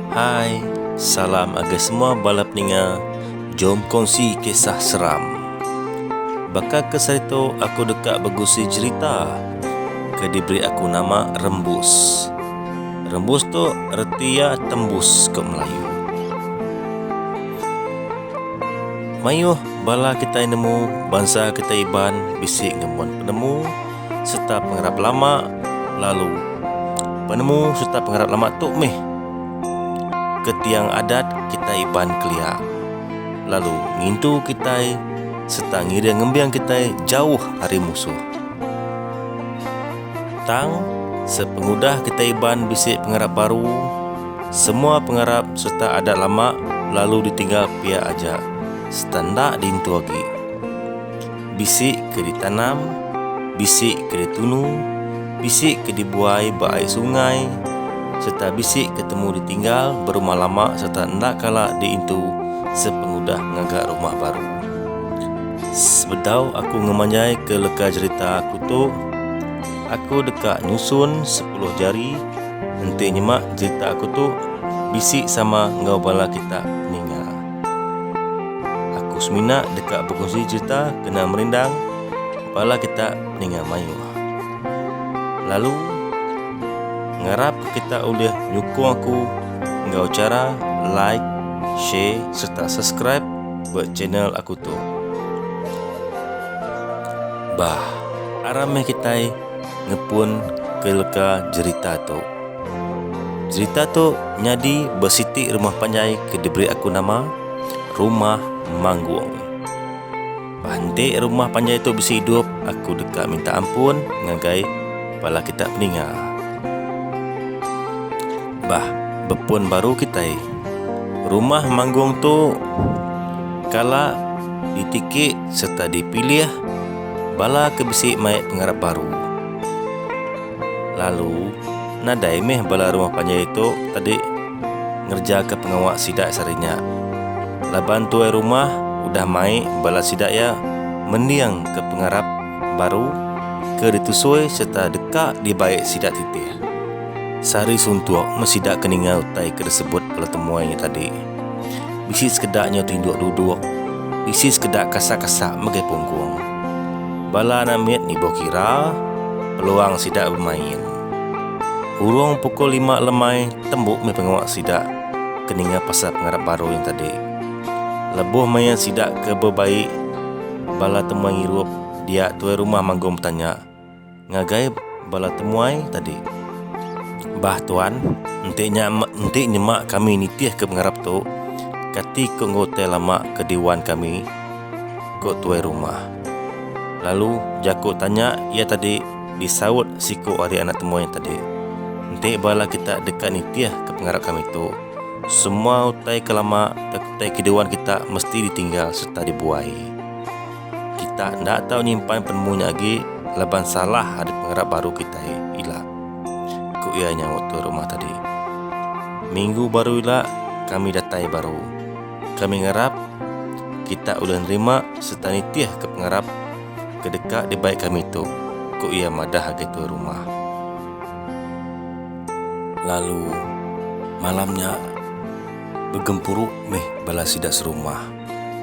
Hai, salam ngagai semua bala peninga, jom kongsi kisah seram. Baka kes hari tu aku deka begusi jerita ke diberi aku nama Rembus. Rembus tu reti iya tembus ko Melayu. Mayuh bala kitai nemu bansa kitai Iban bisi ngembuan penemu. sereta pengarap lama lalu. Penemu sereta pengarap lama tu meh ke tiang adat kitai Iban kelia lalu ngintu kitai sereta ngiring ngembing kitai jauh ari musuh. Tang, sepengudah kitai Iban bisi pengarap baru, semua pengarap sereta adat lama lalu ditinggal pia aja sereta enda diintu agi. bisi ke ditanam, bisi ke ditunu, bisi ke dibuai ba ai sungai sereta bisi ke temu ditinggal berumah lama sereta enda kala diintu sepengudah ngaga rumah baru. Sebedau aku ngemanjaika leka jerita aku tu, aku deka nyusun sepuluh jari enti nyema jerita aku tu bisi sama enggau bala kita peninga. Aku semina deka bekunsi cherita kena merindang bala kita ninga mayuh. Lalu, ngarapka kita ulih nyukung aku enggau chara like, share sereta subscribe ba channel aku tu. Bah, aram meh kitai ngepun ke leka jerita tu. Jerita tu nyadi ba siti rumah panjai ke diberi aku nama Rumah Manggung. Ba enti rumah panjai tu bisi idup, aku deka minta ampun ngagai bala kita peninga. Bah bepun baru kitai, Rumah Manggung tu kala ditiki sereta dipilih Bala ke bisi mai pengarap baru. Lalu, nadai meh bala rumah panjai tu tadi ngerejaka pengawa sida sehari nya. Laban tuai rumah udah mai bala sida iya mending ke pengarap baru ke ditusui sereta deka dibai sida titih. Sehari suntuk meh sida ke ninga utai ke disebut bala temuai nya tadi. Bisi sekeda nyau tinduk duduk, bisi sekeda kasak-kasak mega pungkung. Bala anak mit nibuh kira peluang sida bemain. Hurung pukul lima lemai tembu mih pengawa sida ke ninga pasal pengarap baru nya tadi. Lebuh maya sida ke bebai bala temuai ngirup dia tuai rumah manggung betanya. Ngagai bala temuai tadi. Bah tuan, enti nya enti nyema kami nitihka pengarap tu, kati ko enggai utai lama ke diwan kami? ko tuai rumah. Lalu jaku tanya iya tadi disaut siku ari anak temuai tadi. Enti bala kita deka nitihka pengarap kami tu, semua utai ke lama tauka utai ke diwan kita mesti ditinggal sereta dibuai. Kita enda tau nyimpan penemu nya agi laban salah ari pengarap baru kitai ila, ku iya nyaut tuai rumah tadi. Minggu baru ila kami datai baru. Kami ngarap kita ulih nerima sereta nitihka pengarap ke deka dibai kami tu, ku iya madah agi tuai rumah. Lalu malam nya begempuru mih bala sida serumah.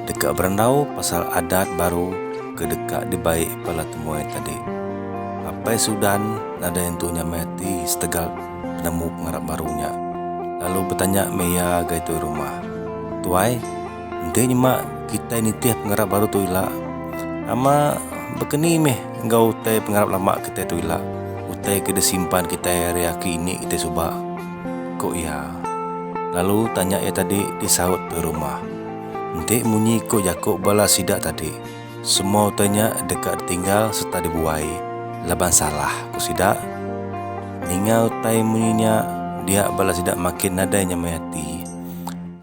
deka berandau pasal adat baru ke deka dibai Pala Temuai tadi. Apai Sudan nadai entu nyamai ati setegal penemu pengarap baru nya lalu betanya meh iya ngagai tuai rumah, Tuai, enti nyema kitai nitih pengarap baru tu ila, nama bekeni meh enggau utai pengarap lama kitai tu ila, utai ke disimpan kitai ari aki ini kitai suba? ku iya. Lalu tanya iya tadi disaut Pui Rumah. Enti munyi ku jaku bala sida tadi, semua utai nya deka ditinggal sereta dibuai laban salah ku sida. Ninga utai munyi nya dia bala sida makin nadai nyemai ati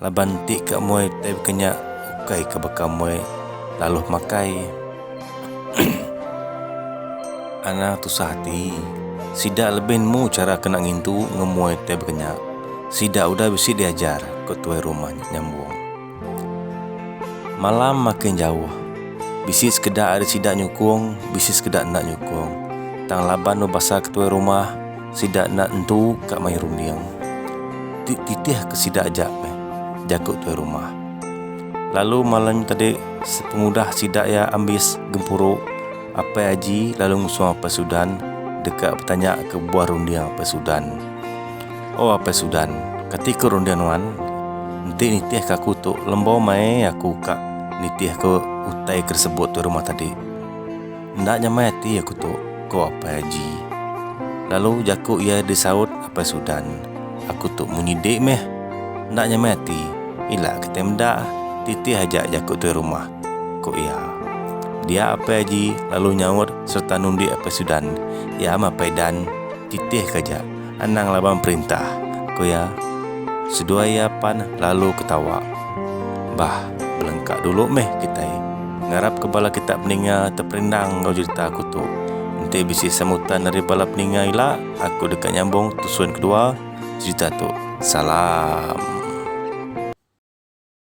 laban enti ka muai utai baka nya ukai ka baka muai laluh makai. Ana tusah ati. Sida lebih nemu chara kena ngintu ngemoi tai bekenya. Sida udah bisi diajar, ku tuai rumah nya nyambung. Malam makin jauh. Bisi sekeda ari sida nyukung, bisi sekeda enda nyukung. Tang laban bebasa ke tuai rumah, sida enda nentu ka mayuh runding. Ti titihka sida aja meh, jaku tuai rumah. Lalu malam tadi sepengudah sida iya ambis gempuru, Apai Aji lalu ngusung Apai Sudan deka betanya ke kebuah runding Apai Sudan. O Apai Sudan, kati ke runding nuan? Enti nitih ke aku tu lembau mai aku ka nitih ke utai ke disebut tuai rumah tadi. Enda nyamai ati aku tu, ko Apai Haji. Lalu jaku iya disaut Apai Sudan, aku tu munyi dik meh. Enda nyamai ati, ila kitai meda, titih aja jaku tuai rumah, ko iya. Dia Apai Haji lalu nyaut sereta nundik Apai Sudan, iya meh Apai Dan, titih ke aja. Anang laban perintah, ku iya. Seduai iya pan lalu ketawa. Bah, belengka dulu meh kitai. Ngarapka bala kita peninga teperendang enggau jerita aku tu. Enti bisi sambutan ari bala peninga ila, aku deka nyambung tusun kedua jerita tu. Salam.